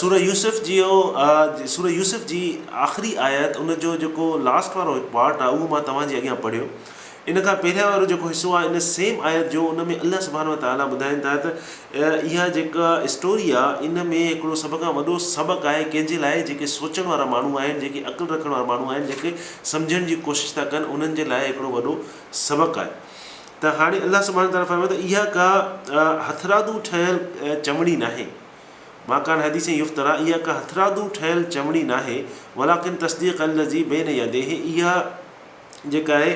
سوره يوسف جيو سوره يوسف جي آخري آيت ان جو جيڪو لاسٽ وارو هڪ پارٽ آهي اهو مان توهان جي اڳيان پڙهيو ان کان پهريان وارو جيڪو حصو آهي ان سيم آيت جو ان ۾ الله سبحانه وتعالٰي ٻڌائين ٿا ته اها جيڪا اسٽوري آهي ان ۾ هڪڙو سڀ کان وڏو سبق آهي ڪنهن جي لاء جيڪي سوچڻ وارا ماڻهو آهن جيڪي عقل رکڻ وارا ماڻهو آهن جيڪي سمجهڻ جي ڪوشش ٿا ڪن انهن جي لاء هڪڙو وڏو سبق آهي ته هاڻي الله سبحانه وتعاليٰ فرمايو ته اها ڪا هٿرادو ٺهيل چمڙي ناهي، ما ڪان حديث يفتريٰ، اها ڪا هٿرادو ٺهيل چمڙي ناهي، ولٰڪن تصديق الذي بين يديه، اها جيڪا آهي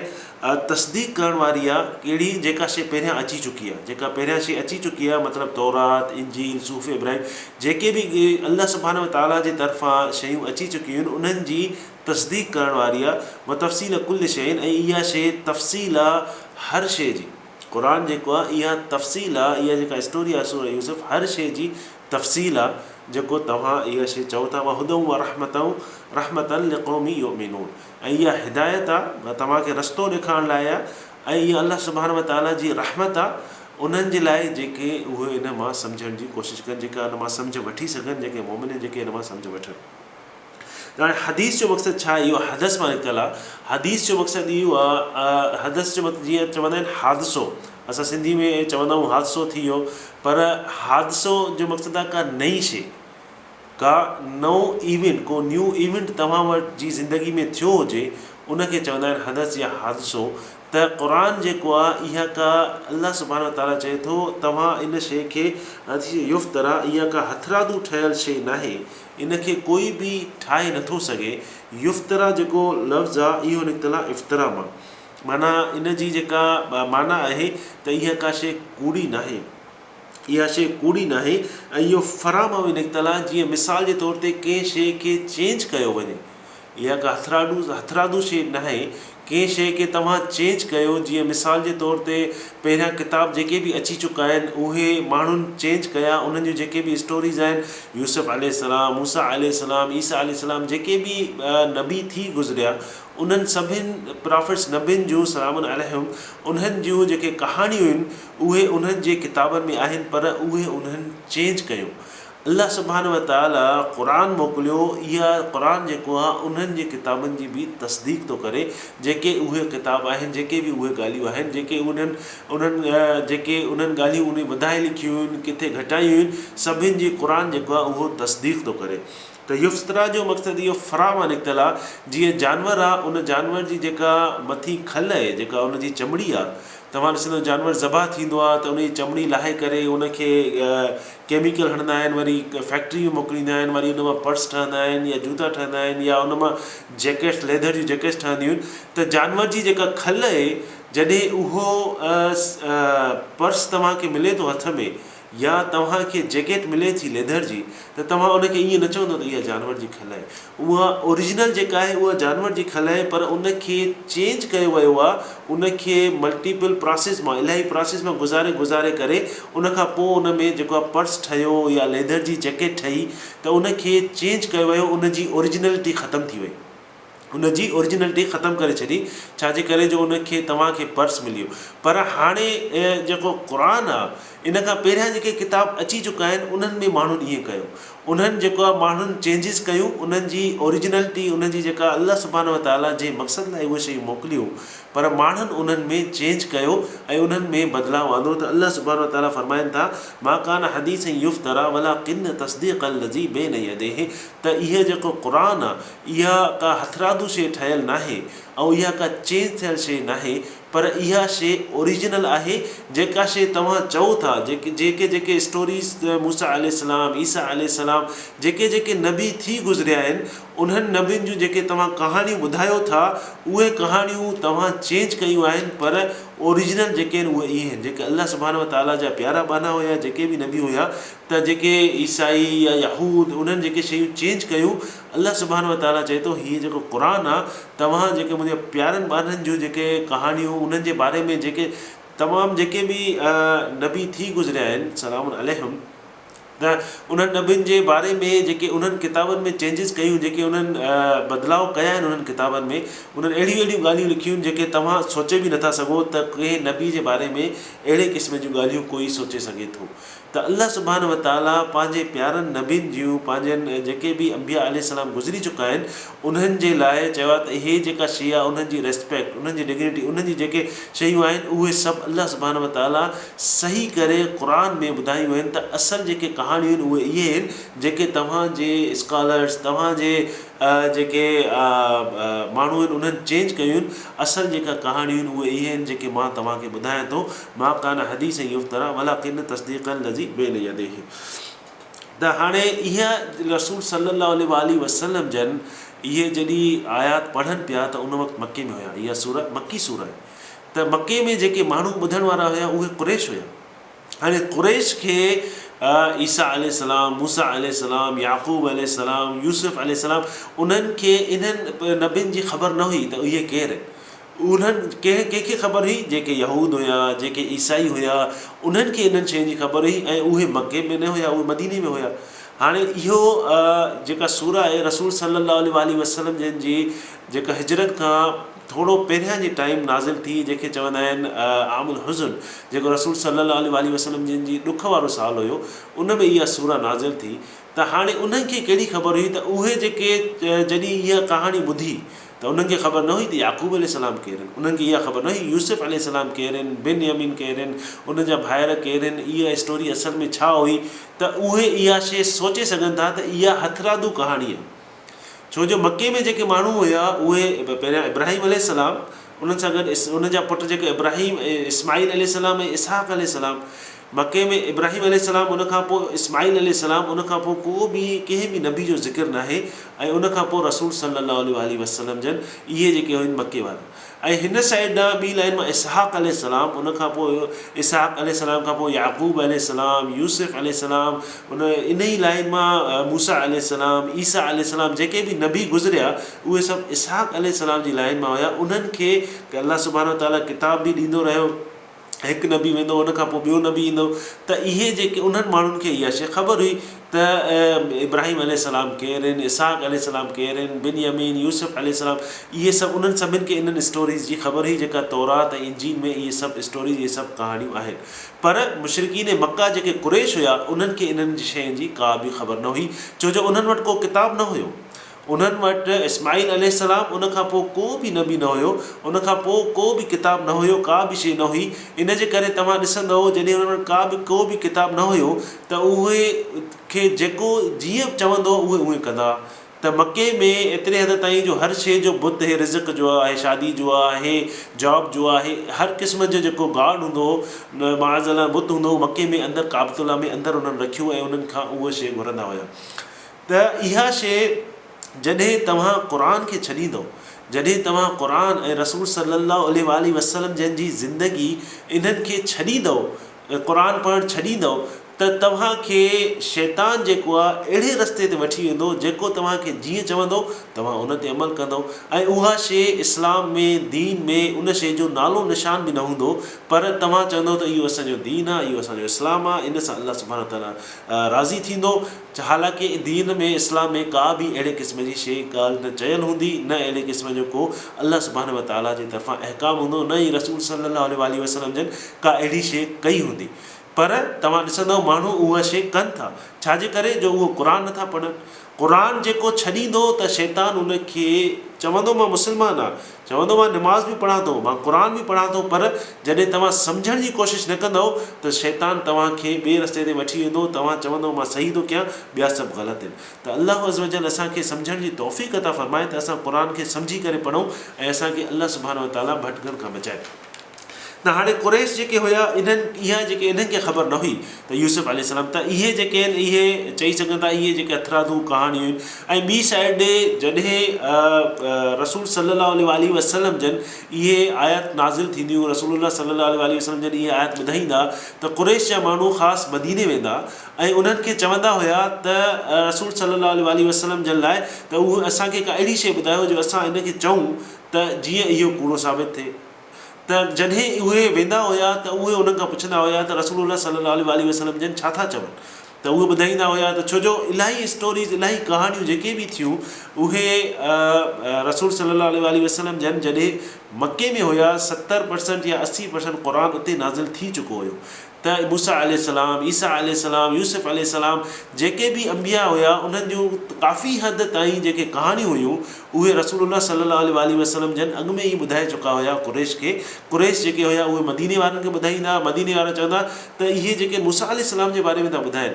تصديق ڪرڻ واري آهي، ڪهڙي؟ جيڪا شيء پهريان اچي چڪي آهي، جيڪا پهريان شيء اچي چڪي آهي مطلب تورات، انجيل، صحف ابراهيم جيڪي به الله سبحانه وتعاليٰ جي طرفان شيون اچي چڪيون آهن انهن جي تصديق ڪرڻ واري آ، وتفصيل ڪل شيء ۽ اها شيء تفصيل آ هر شيء جي. قرآن جيڪو آ اها تفصيل آ، اها جيڪا اسٽوري آ سورة يوسف هر شيء جي تفصيل آ، جيڪو توهان اها شيء چئو ٿا وهدًا ورحمة رحمة لقوم يؤمنون ۽ اها هدايت آ توهان کي رستو ڏيکارڻ لاء آ ۽ اها الله سبحانه وتعاليٰ جي رحمت آ انهن جي لاء جيڪي اهي ان مان سمجهڻ جي ڪوشش ڪن جيڪي ان مان سمجهه وٺي سگهن جيڪي مؤمن آهن جيڪي ان مان سمجهه وٺن. ته هاڻي حديث جو مقصد ڇا آهي؟ اهو حدث مان نڪتل آهي. حديث جو مقصد اهو آهي ۽ حدث جو مقصد جيئن چوندا آهن حادثو، اسان سنڌي ۾ چوندا آهيون حادثو ٿي ويو، پر حادثو جو مقصد آهي ڪا نئين شيء، ڪا نئون ايونٽ، ڪو نيو ايونٽ توهان وٽ جي زندگي ۾ ٿيو هجي، ان کي چوندا آهن حدث يا حادثو. ته قرآن جيڪو آهي اها ڪا الله سبحانه و تعاليٰ چئي ٿو توهان ان شيء کي يفتريٰ اها ڪا هٿرادو ٺهيل شيء ناهي، ان کي ڪوئي به ٺاهي نٿو سگهي. يفترا جيڪو لفظ آ اهو نڪتل آ افتراء مان. معنيٰ ان جي جيڪا معنيٰ آهي ته اها ڪا شيء ڪوڙي ناهي. اها شيء ڪوڙي ناهي ۽ اهو فرا مان به نڪتل آ جيئن مثال جي طور تي ڪنهن شيء کي چينج ڪيو وڃي. اها ڪا هٿراڏو هٿراڌو شيء ناهي، ڪنهن شيء کي توهان چينج ڪيو، جيئن مثال جي طور تي پهريان ڪتاب جيڪي به اچي چڪا آهن، اهي ماڻهن چينج ڪيا، انهن جون جيڪي به اسٽوريز آهن، يوسف عليه السلام، موسيٰ عليه السلام، عيسيٰ عليه السلام، جيڪي به نبي ٿي گذريا، انهن سڀن پرافيٽس، نبين جون سلام عليهم، انهن جون جيڪي ڪهاڻيون هيون، اهي انهن جي ڪتابن ۾ آهن، پر اهي انهن چينج ڪيون. الله سبحانه وتعاليٰ قرآن موڪليو، اها قرآن جيڪو آهي انهن جي ڪتابن جي به تصديق ٿو ڪري، جيڪي اهي ڪتاب آهن، جيڪي به اهي ڳالهيون آهن، جيڪي انهن انهن جيڪي انهن ڳالهيون انهي وڌائي لکيون هيون، ڪٿي گهٽايون هيون، سڀن جي قرآن جيڪو آهي اهو تصديق ٿو ڪري. ته يفتريٰ جو مقصد اهو فرا مان نڪتل آهي، جيئن جانور آهي، ان جانور جي جيڪا مٿين کل اهي، جيڪا ان جي چمڙي آهي، توهان ڏسندؤ جانور ذبح ٿيندو آهي ته ان جي چمڙي لاهي ڪري ان کي ڪيميڪل هڻندا آهن وري فيڪٽري ۾ موڪليندا آهن وري ان مان پرس ٺهندا آهن يا جوتا ٺهندا آهن يا ان مان جيڪٽس ليڌر جون جيڪٽس ٺهنديون آهن ته جانور جي جيڪا کل اهي جڏهن اهو پرس توهان کي ملي ٿو هٿ ۾ يا توهان کي جيڪٽ ملي ٿي ليڌر جي ته توهان ان کي ائين نه چوندو ته اها جانور جي کل اهي اها اوريجنل جيڪا آهي اها جانور جي کل آهي پر ان کي چينج ڪيو ويو آهي ان کي ملٽيپل پراسيس مان الاهي پراسيس مان گذاري گذاري ڪري ان کان پوء ان ۾ جيڪو آهي پرس ٺهيو يا ليڌر جي جيڪيٽ ٺهي ته ان کي چينج ڪيو ويو ان جي اوريجنلٽي ختم ٿي وئي ان جي اوريجنلٽي ختم ڪري ڇڏي ڇا جي ڪري جو ان کي توهان کي پرس مليو پر هاڻي جيڪو قرآن آهي ان کان پهريان جيڪي ڪتاب اچي چڪا آهن انهن ۾ ماڻهن ائين ڪيو انهن جيڪا ماڻهن چينجز ڪيون انهن جي اوريجنلٽي انهن جي جيڪا الله سبحانه و تعالي جنهن مقصد لاء اهي شيون موڪليون پر ماڻهن انهن ۾ چينج ڪيو ۽ انهن ۾ بدلاء آندو ته الله سبحانه و تعالي فرمائن ٿا ما ڪان حديثا يفترا ولاڪن تصديق الذي بين يديه ته اهي جيڪو قرآن آ اها ڪا هٿرادو شيء ٺهيل ناهي ۽ اها ڪا چينج ٿيل شيء ناهي پر اها شي اوريجنل آهي جيڪا شي توهان چئو ٿا جيڪي جيڪي جيڪي اسٽوريز ته موسيٰ عليه السلام عيسيٰ عليه السلام جيڪي جيڪي نبي ٿي گذريا آهن انهن نبين جون جيڪي توهان ڪهاڻيون ٻڌايو ٿا اهي ڪهاڻيون توهان چينج ڪيون آهن پر اوريجنل جيڪي آهن اهي اهي آهن جيڪي الله سبحانه وتعاليٰ جا پيارا ٻانها هيا جيڪي به نبي هيا ته جيڪي عيسائي يا يهود انهن جيڪي شيون چينج ڪيون الله سبحانه وتعاليٰ چئي ٿو، هيء جيڪو قرآن آهي، توهان جيڪي منهنجي پيارن ٻارڙن جون جيڪي ڪهاڻيون، انهن جي باري ۾ جيڪي تمام جيڪي به نبي ٿي گذريا آهن، سلام عليهم، ته انهن نبين جي باري ۾ جيڪي انهن ڪتابن ۾ چينجز ڪيون، جيڪي انهن بدلاء ڪيا آهن انهن ڪتابن ۾، انهن اهڙيون اهڙيون ڳالهيون لکيون آهن، جيڪي توهان سوچي به نٿا سگهو ته ڪنهن نبي جي باري ۾ اهڙي قسم جون ڳالهيون ڪوئي سوچي سگهي ٿو. ته الله سبحانه وتعاليٰ پنهنجي پيارن نبين جيون پنهنجن جيڪي به انبياء عليه السلام گذري چڪا آهن انهن جي لاء چيو آهي ته هي جيڪا شيء آهي انهن جي ريسپيڪٽ انهن جي ڊگنيٽي انهن جي جيڪي شيون آهن اهي سڀ الله سبحانه وتعاليٰ صحيح ڪري قرآن ۾ ٻڌايون آهن ته اصل جيڪي ڪهاڻيون آهن اهي اهي آهن جيڪي توهان جي اسڪالرز توهان جي جيڪي ماڻهو آهن انهن چينج ڪيون آهن اصل جيڪا ڪهاڻيون آهن اهي اهي آهن جيڪي مان توهان کي ٻڌايان ٿو. ما ڪان حديث يفترا ولڪن تصديق الذي بين يديه ته هاڻي اهي رسول صلي الله عليه واٰله وسلم جن اهي جڏهن آيات پڙهن پيا ته ان وقت مڪي ۾ هيا اها سوره مڪي سوره آهي ته مڪي ۾ جيڪي ماڻهو ٻڌڻ وارا هيا اهي قريش هيا هاڻي قريش کي عيسيٰ عليه السلام موسيٰ عليه السلام يعقوب عليه السلام يوسف عليه السلام انهن کي انهن نبين جي خبر نه هئي ته اهي ڪير آهن انهن ڪنهن ڪنهن کي خبر هئي؟ جيڪي يهود هيا، جيڪي عيسائي هيا، انهن کي انهن شين جي خبر هئي ۽ اهي مڪي ۾ نه هيا، اهي مديني ۾ هيا. هاڻي اهو جيڪا سورة آهي رسول صلّي اللّٰه عليه واٰله وسلّم جن جي جيڪا هجرت کان ٿورو پهريان جي ٽائيم نازل ٿي جنهن کي چوندا آهن عام الحزن جيڪو رسول صلّي اللّٰه عليه واٰله وسلّم جن جي ڏک وارو سال هيو ان ۾ اها سورة نازل ٿي ته هاڻي انهن کي ڪهڙي خبر هئي ته اهي جيڪي جڏهن اها ڪهاڻي ٻڌي ته انهن کي خبر نه هئي ته يعقوب عليه السلام ڪير هن، انهن کي اها خبر نه هئي يوسف عليه السلام ڪير هن، بن يمين ڪير هن، ان جا ڀائر ڪير هن، اها اسٽوري اصل ۾ ڇا هئي ته اهي اها شيء سوچي سگهن ٿا ته اها هٿرادو ڪهاڻي آهي ڇو جو مڪي ۾ جيڪي ماڻهو هيا اهي پهريان ابراهيم عليه السلام انهن سان گڏ ان جا پٽ جيڪي ابراهيم ۽ اسماعيل عليه السلام ۽ اسحاق عليه السلام مڪي ۾ ابراهيم عليه السلام ان کان پوء اسماعيل عليه السلام ان کان پوء ڪو به ڪنهن به نبي جو ذڪر ناهي ۽ ان کان پوء رسول صلي الله عليه واٰله وسلم جن اهي جيڪي هن مڪي وارو ۽ هن سائيڊ ڏانهن ٻي لائين مان اسحاق عليه السلام ان کان پوء اسحاق عليه السلام کان پوء يعقوب عليه السلام يوسف عليه السلام ان انهي لائين مان موسيٰ عليه السلام عيسيٰ عليه السلام جيڪي به نبي گذريا اهي سڀ اسحاق عليه السلام جي لائين مان هيا انهن کي الله سبحانه وتعاليٰ ڪتاب به ڏيندو رهيو هڪ نبي ويندو ان کان پوء ٻيو نبي ايندو ته اهي جيڪي انهن ماڻهن کي اها شيء خبر هئي ته ابراهيم عليه السلام ڪير آهن اسحاق عليه السلام ڪير آهن بنيامين يوسف عليه السلام اهي سڀ انهن سڀن کي انهن اسٽوريز جي خبر هئي جيڪا تورات ۽ انجيل ۾ اهي سڀ اسٽوريز اهي سڀ ڪهاڻيون آهن پر مشرڪين مڪه جيڪي قريش هيا انهن کي انهن شين جي ڪا به خبر نه هئي ڇو جو انهن وٽ ڪو ڪتاب نه هيو انهن وٽ اسماعيل عليه السلام ان کان پوء ڪو به نبي نه هيو، ان کان پوء ڪو به ڪتاب نه هيو، ڪا به شيء نه هئي، ان جي ڪري توهان ڏسندؤ جڏهن انهن وٽ ڪا به ڪو به ڪتاب نه هيو ته اهي کي جيڪو جيئن چوندو هو اهي اونئين ڪندا ته مڪي ۾ ايتري حد تائين جو هر شيء جو بت هي رزق جو آهي شادي جو آهي جاب جو آهي هر قسم جو جيڪو گاڊ هوندو هو معاذ الله بت هوندو هو مڪي ۾ اندر ڪعبت الله ۾ اندر انهن رکيو ۽ انهن کان اهو شيء گهرندا هيا. ته اها شيء جڏهن توهان قرآن کي ڇڏيندؤ، جڏهن توهان قرآن ۽ رسول صلّي اللّٰه عليه واٰله وسلّم جن جي زندگي انهن کي ڇڏيندؤ، قرآن پڙهڻ ڇڏيندؤ ته توهان کي شيطان جيڪو آهي اهڙي رستي تي وٺي ويندو جيڪو توهان کي جيئن چوندو توهان ان تي عمل ڪندؤ ۽ اها شيء اسلام ۾ دين ۾ ان شيء جو نالو نشان به نه هوندو پر توهان چوندؤ ته اهو اسان جو دين آهي اهو اسان جو اسلام آهي ان سان الله سبحانه وتعالٰي راضي ٿيندو چا حالانڪه دين ۾ اسلام ۾ ڪا به اهڙي قسم جي شيء ڳالهه نه چيل هوندي، نه اهڙي قسم جو ڪو الله سبحانه و تعاليٰ جي طرفان احڪام هوندو، نه ئي رسول صلّي اللّٰه عليه واٰله وسلّم جن ڪا اهڙي شيء ڪئي هوندي. پر توهان ڏسندؤ ماڻهو اها شيء ڪن ٿا، ڇا جي ڪري جو اهو قرآن نه ٿا پڙهن. قرآن جيڪو ڇڏيندو ته شيطان ان کي چوندو مان مسلمان آهيان، چوندو مان نماز به پڙهان ٿو، مان قرآن به پڙهان ٿو پر جڏهن توهان سمجهڻ جي ڪوشش نه ڪندؤ ته شيطان توهان کي ٻئي رستي تي وٺي ويندو توهان چوندؤ مان صحيح ٿو ڪيان ٻيا سڀ غلط هين ته الله عزّوجلّ اسان کي سمجهڻ جي توفيق عطا فرمائي ته اسان قرآن کي سمجهي ڪري پڙهون ۽ اسان کي الله سبحانه وتعالٰي ڀٽڪڻ کان بچائي. ته هاڻي قريش جيڪي هيا انهن اها جيڪي انهن کي خبر نه هئي ته يوسف عليه السلام ته اهي جيڪي آهن اهي چئي سگهن ٿا اهي جيڪي هٿرادو ڪهاڻيون آهن ۽ ٻي سائيڊ ڏي جڏهن رسول صلي الله عليه واٰله وسلم جن اهي آيات نازل ٿينديون رسول الله صلي الله عليه واٰله وسلم جن اهي آيات ٻڌائيندا ته قريش جا ماڻهو خاص مديني ويندا ۽ انهن کي چوندا هيا ته رسول صلي الله عليه واٰله وسلم جن لاء ته اسان کي ڪا اهڙي شيء ٻڌايو جو اسان ان کي چئون ته جيئن اهو ڪوڙو ثابت ٿئي. ته جڏهن اهي ويندا هيا ته اهي انهن کان پڇندا هيا ته رسول الله صلي الله عليه واٰله وسلم جن ڇا ٿا چون ته اهي ٻڌائيندا هيا ته ڇوجو الاهي اسٽوريز الاهي ڪهاڻيون جيڪي به ٿيون اهي رسول صلي الله عليه واٰله وسلم جن جڏهن مڪي ۾ هيا ستر پرسنٽ يا اسي پرسنٽ قرآن اتي نازل ٿي چڪو هيو ته موسيٰ عليه السلام، عيسيٰ عليه السلام، يوسف عليه السلام جيڪي به انبياء هيا انهن جون ڪافي حد تائين جيڪي ڪهاڻيون هيون اهي رسول الله صلي الله عليه واٰله وسلم جن اڳ ۾ ئي ٻڌائي چڪا هيا قريش کي، قريش جيڪي هيا اهي مديني وارن کي ٻڌائيندا هئا، مديني وارا چوندا هئا ته اهي جيڪي موسيٰ عليه السلام جي باري ۾ ٿا ٻڌائين،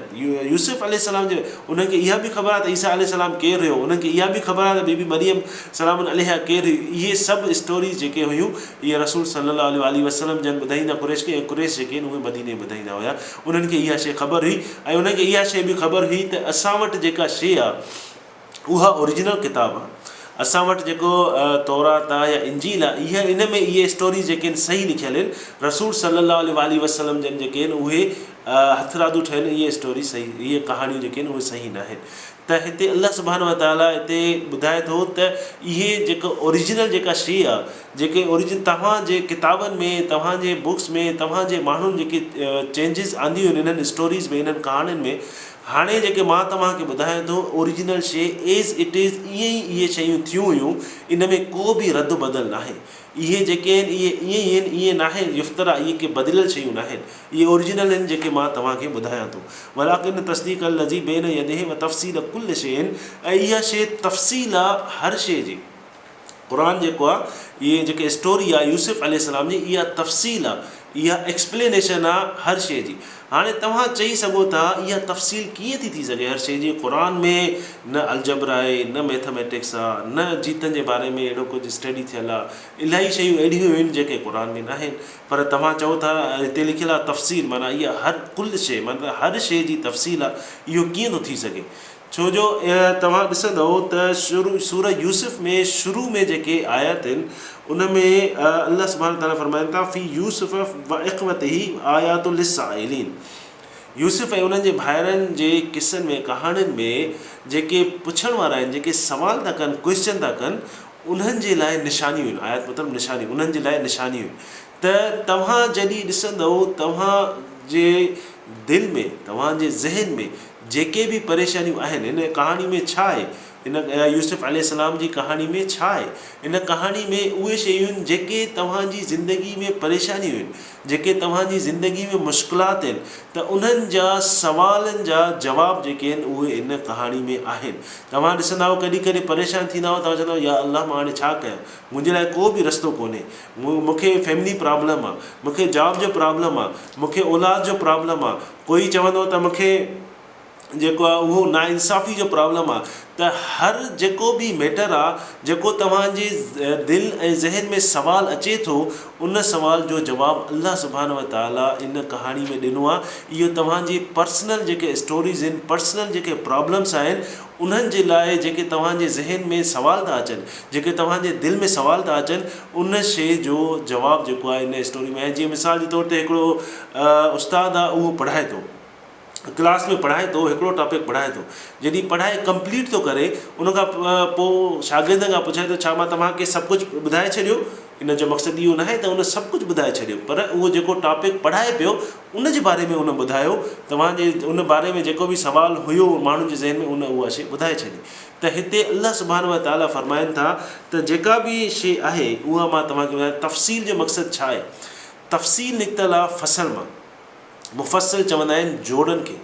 يوسف عليه السلام جي انهن کي اها به خبر آهي ته عيسيٰ عليه السلام ڪير هيو، انهن کي اها به خبر آهي ته بي بي مريم سلام عليها ڪير هئي، اهي سڀ اسٽوريز جيڪي هيون اهي رسول صلّي الله عليه واٰله وسلّم جن ٻڌائيندا قريش کي ۽ قريش جيڪي هن اهي مديني ٻڌائيندا هيا انهن کي اها شيء خبر هئي ۽ انهن کي اها شيء به خبر هئي ته اسان وٽ جيڪا شيء آ اها اوريجنل ڪتاب آ اسان وٽ جيڪو تورات آ يا انجيل آ اها ان ۾ اهي اسٽوريز جيڪي هن صحيح لکيل هن رسول صلّي الله عليه واٰله وسلّم جن جيڪي هن اهي هٿرادو ٺهيل اهي اسٽوريز صحيح اهي ڪهاڻيون جيڪي هن اهي صحيح ناهن ته هتي الله سبحانه وتعالٰي هتي ٻڌائي ٿو ته اهي جيڪو Original جيڪا شيء آ، جيڪي Original توهان جي ڪتابن ۾ توهان جي Books ۾ توهان جي ماڻهن جيڪي Changes آنديون آهن انهن Stories ۾ انهن ڪهاڻين ۾ هاڻي جيڪي مان توهان کي ٻڌايان ٿو Original شيء As It Is ائين ئي اهي شيون ٿيون هيون ان ۾ ڪو به رد و بدل ناهي اهي جيڪي آهن اهي ائين ئي آهن ائين ناهي يفترا اهي ڪي بدليل شيون ناهن اهي اوريجنل آهن جيڪي مان توهان کي ٻڌايان ٿو ولڪن تصديق الذي بين يديه وتفصيل ڪل شيء ۽ اها شيء تفصيل آهي هر شيء جي قرآن جيڪو آهي اهي جيڪي اسٽوري آهي يوسف عليه السلام جي اها تفصيل آهي اها ايڪسپلينيشن آ هر شيء جي. هاڻي توهان چئي سگهو ٿا اها تفصيل ڪيئن ٿي ٿي سگهي هر شيء جي قرآن ۾ نه الجبر آهي نه ميٿميٽڪس آ نه جيتن جي باري ۾ اهڙو ڪجهه اسٽڊي ٿيل آ الائي شيون اهڙيون هين جيڪي قرآن ۾ ناهن پر توهان چئو ٿا هتي لکيل آ تفصيل معنيٰ اها هر ڪل شيء معنيٰ هر شيء جي تفصيل آ اهو ڪيئن ٿو ٿي سگهي ڇو جو توهان ڏسندؤ ته سوره يوسف ۾ شروع ۾ جيڪي آيات آهن ان ۾ الله سبحانه وتعاليٰ فرمائن ٿا في يوسف واخوته آيات للسائلين يوسف ۽ انهن جي ڀائرن جي قصن ۾ ڪهاڻين ۾ جيڪي پڇڻ وارا آهن جيڪي سوال ٿا ڪن Question ٿا ڪن انهن جي لاء نشانيون آهن آيات مطلب نشانيون انهن جي لاء نشانيون آهن ته توهان جڏهن ڏسندؤ توهان جي دل ۾ توهان جي ذهن ۾ جيڪي به پريشانيون آهن، هن ڪهاڻي ۾ ڇا آهي؟ هن يوسف عليه السلام جي ڪهاڻي ۾ ڇا آهي؟ هن ڪهاڻي ۾ اهي شيون آهن، جيڪي توهان جي زندگي ۾ پريشانيون آهن، جيڪي توهان جي زندگي ۾ مشڪلات آهن ته انهن جا سوالن جا جواب جيڪي آهن، اهي هن ڪهاڻي ۾ آهن. توهان ڏسندا آهيو ڪڏهن ڪڏهن پريشان ٿيندا آهيو، توهان چوندا آهيو يا الله مان هاڻي ڇا ڪيان؟ منهنجي لاء ڪو به رستو ڪونهي. مون کي فيملي پرابلم آهي، مون کي جاب جو پرابلم آهي، مون کي اولاد جو پرابلم آهي. ڪوئي چوندو ته مونکي جيڪو آ اهو نا انصافي جو پرابلم آ ته هر جيڪو به ميٽر آ جيڪو توهان جي دل ۽ ذهن ۾ سوال اچي ٿو ان سوال جو جواب الله سبحانه و تعالي ان ڪهاڻي ۾ ڏنو آ اهو توهان جي پرسنل جيڪي اسٽوريز ان پرسنل جيڪي پرابلمس آهن انهن جي لاء جيڪي توهان جي ذهن ۾ سوال ٿا اچن جيڪي توهان جي دل ۾ سوال ٿا اچن ان شي جو جواب جيڪو آ ان اسٽوري ۾ آهي جيئن مثال جي طور تي هڪڙو استاد آ اهو پڙهائي ٿو ڪلاس ۾ پڙهائي ٿو هڪڙو ٽاپڪ پڙهائي ٿو جڏهن پڙهائي ڪمپليٽ ٿو ڪري ان کان پو شاگردن کان پڇائي ٿو ڇا مان توهان کي سڀ ڪجهه ٻڌائي ڇڏيو ان جو مقصد اهو ناهي ته ان سڀ ڪجهه ٻڌائي ڇڏيو پر اهو جيڪو ٽاپڪ پڙهائي پيو ان جي باري ۾ ان ٻڌايو توهان جي ان باري ۾ جيڪو بي سوال هيو ماڻهن جي ذهن ۾ ان اها شي ٻڌائي ڇڏي ته هتي الله سبحانه وتعالٰي فرمائن ٿا ته جيڪا به شي آهي اها مان توهان کي ٻڌايو تفصيل جو مقصد ڇا آهي تفصيل نڪتل آ فصل مان. مفصل چوندا آهن جوڙن کي.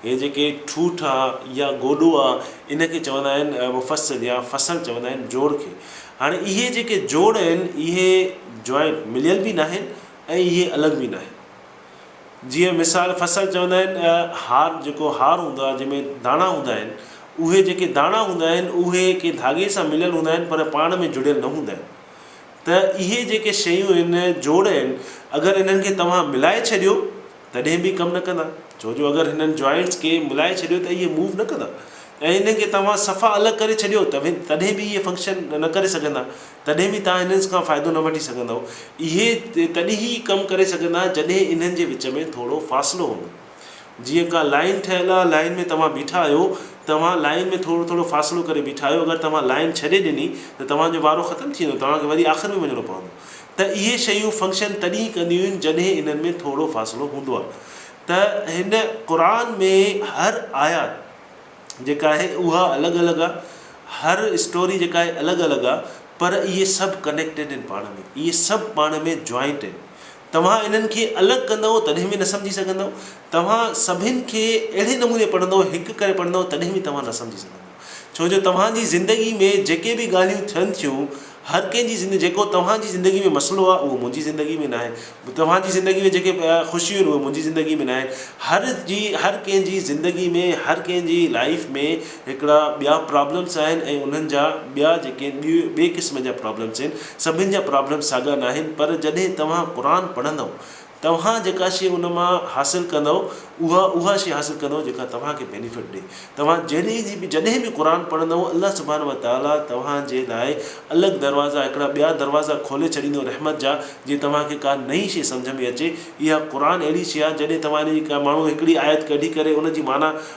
هي جيڪي ٺوٺ آ يا گوڏو آ ان کي چوندا آهن مفصل يا فصل چوندا آهن جوڙ کي. هاڻي اهي جيڪي جوڙ آهن اهي جوائنٽ مليل به ناهن ۽ اهي الڳ به ناهن. جيئن مثال فصل چوندا آهن هار جيڪو هار هوندو آ جنهن ۾ داڻا هوندا آهن اهي جيڪي داڻا هوندا آهن اهي ڪنهن ڌاڳي سان مليل هوندا آهن پر پاڻ ۾ جڙيل نه هوندا آهن. ته اهي جيڪي شيون هن جوڙ آهن اگر انهن کي توهان ملائي ڇڏيو تڏهن به ڪم نه ڪندا ڇو جو اگر هنن جوائنٽس کي ملائي ڇڏيو ته اهي موو نه ڪندا ۽ انهن کي توهان صفا الڳ ڪري ڇڏيو تڏهن به اهي فنڪشن نه ڪري سگهندا تڏهن به توهان هنن کان فائدو نه وٺي سگهندؤ اهي تڏهن ئي ڪم ڪري سگهندا جڏهن انهن جي وچ ۾ ٿورو فاصلو هوندو. جيئن ڪا لائين ٺهيل آهي، لائين ۾ توهان بيٺا آهيو، توهان لائين ۾ ٿورو ٿورو فاصلو ڪري بيٺا آهيو، اگر توهان لائين ڇڏي ڏني ته توهان جو وارو ختم ٿي ويندو، توهان کي وري آخر ۾ وڃڻو پوندو، ته اهي شيون فنڪشن تڏهن ئي ڪنديون آهن جڏهن انهن ۾ ٿورو فاصلو هوندو آهي، ته هن قرآن ۾ هر آيات جيڪا آهي اها الڳ الڳ آهي، هر اسٽوري جيڪا آهي الڳ الڳ آهي، پر اهي سڀ ڪنيڪٽيڊ آهن پاڻ ۾، اهي سڀ پاڻ ۾ جوائنٽ آهن. توهان انهن کي الڳ ڪندؤ تڏهن به نه سمجهي سگهندؤ. توهان سڀن کي اهڙي نموني پڙهندؤ، هڪ ڪري پڙهندؤ تڏهن به توهان نه سمجهي سگهندؤ. ڇو جو توهان جي زندگي ۾ جيڪي به ڳالهيون ٿين ٿيون، هر ڪنهن جي زندگي جيڪو توهان جي زندگي ۾ مسئلو آهي اهو منهنجي زندگي ۾ ناهي. توهان جي زندگي ۾ جيڪي خوشيون آهن اهي منهنجي زندگي ۾ ناهن. هر جي هر ڪنهن جي زندگي ۾ هر ڪنهن جي لائف ۾ هڪڙا ٻيا پرابلمس آهن ۽ انهن جا ٻيا جيڪي ٻئي قسم جا پرابلمس آهن سڀن جا پرابلمس ساڳا ناهن پر جڏهن توهان قرآن پڙهندؤ توهان جيڪا شي ان مان حاصل ڪندؤ اها اها شي حاصل ڪندؤ جيڪا توهان کي بينيفٽ ڏي توهان جهڙي جي به جڏهن به قرآن پڙهندؤ الله سبحانه وتعاليٰ توهان جي لاء الڳ دروازا هڪڙا ٻيا دروازا کولي ڇڏيندو رحمت جا جي توهان کي ڪا نئين شي سمجهه ۾ اچي اها قرآن اهڙي شي آهي جڏهن توهان ان جي ڪا ماڻهو هڪڙي آيت ڪڍي ڪري ان جي معنيٰ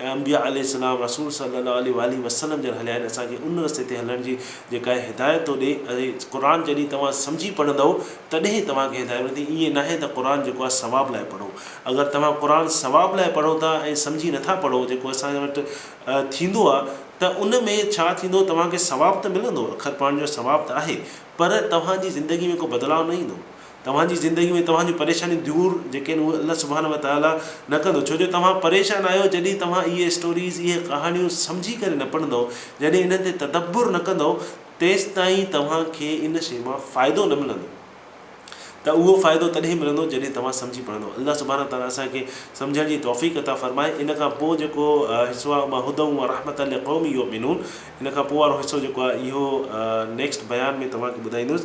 ۽ انبياء عليه السلام، رسول صلّي الله عليه واٰله وسلّم جن هليا آهن، اسان کي ان رستي تي هلڻ جي جيڪا هي هدايت ٿو ڏئي ۽ قرآن جڏهن توهان سمجهي پڙهندؤ تڏهن ئي توهان کي هدايت ملندي، ائين ناهي ته قرآن جيڪو آهي ثواب لاء پڙهو، اگر توهان قرآن ثواب لاء پڙهو ٿا ۽ سمجهي نه ٿا پڙهو جيڪو اسان وٽ ٿيندو آهي ته ان ۾ ڇا ٿيندو توهان کي ثواب ته ملندو، اکر پڙهڻ جو ثواب ته آهي پر توهان جي زندگي ۾ ڪو بدلاء نه ايندو، توهان جي زندگي ۾ توهان جون پريشانيون دور جيڪي آهن اهي الله سبحانه و تعاليٰ نه ڪندو ڇو جو توهان پريشان آهيو جڏهن توهان اهي اسٽوريز اهي ڪهاڻيون سمجهي ڪري نه پڙهندؤ جڏهن انهن تي تدبر نه ڪندؤ تيستائين توهان کي ان شي مان فائدو نه ملندو ته اهو فائدو تڏهن ملندو جڏهن توهان سمجهي پڙهندؤ الله سبحانه و تعاليٰ اسان کي سمجهڻ جي توفيق عطا فرمائي ان کان پوء جيڪو حصو آهي اهو هدًا و رحمتًا لقوم يؤمنون ان کان پوء وارو حصو جيڪو آهي اهو نيڪسٽ بيان ۾ توهان کي ٻڌائيندس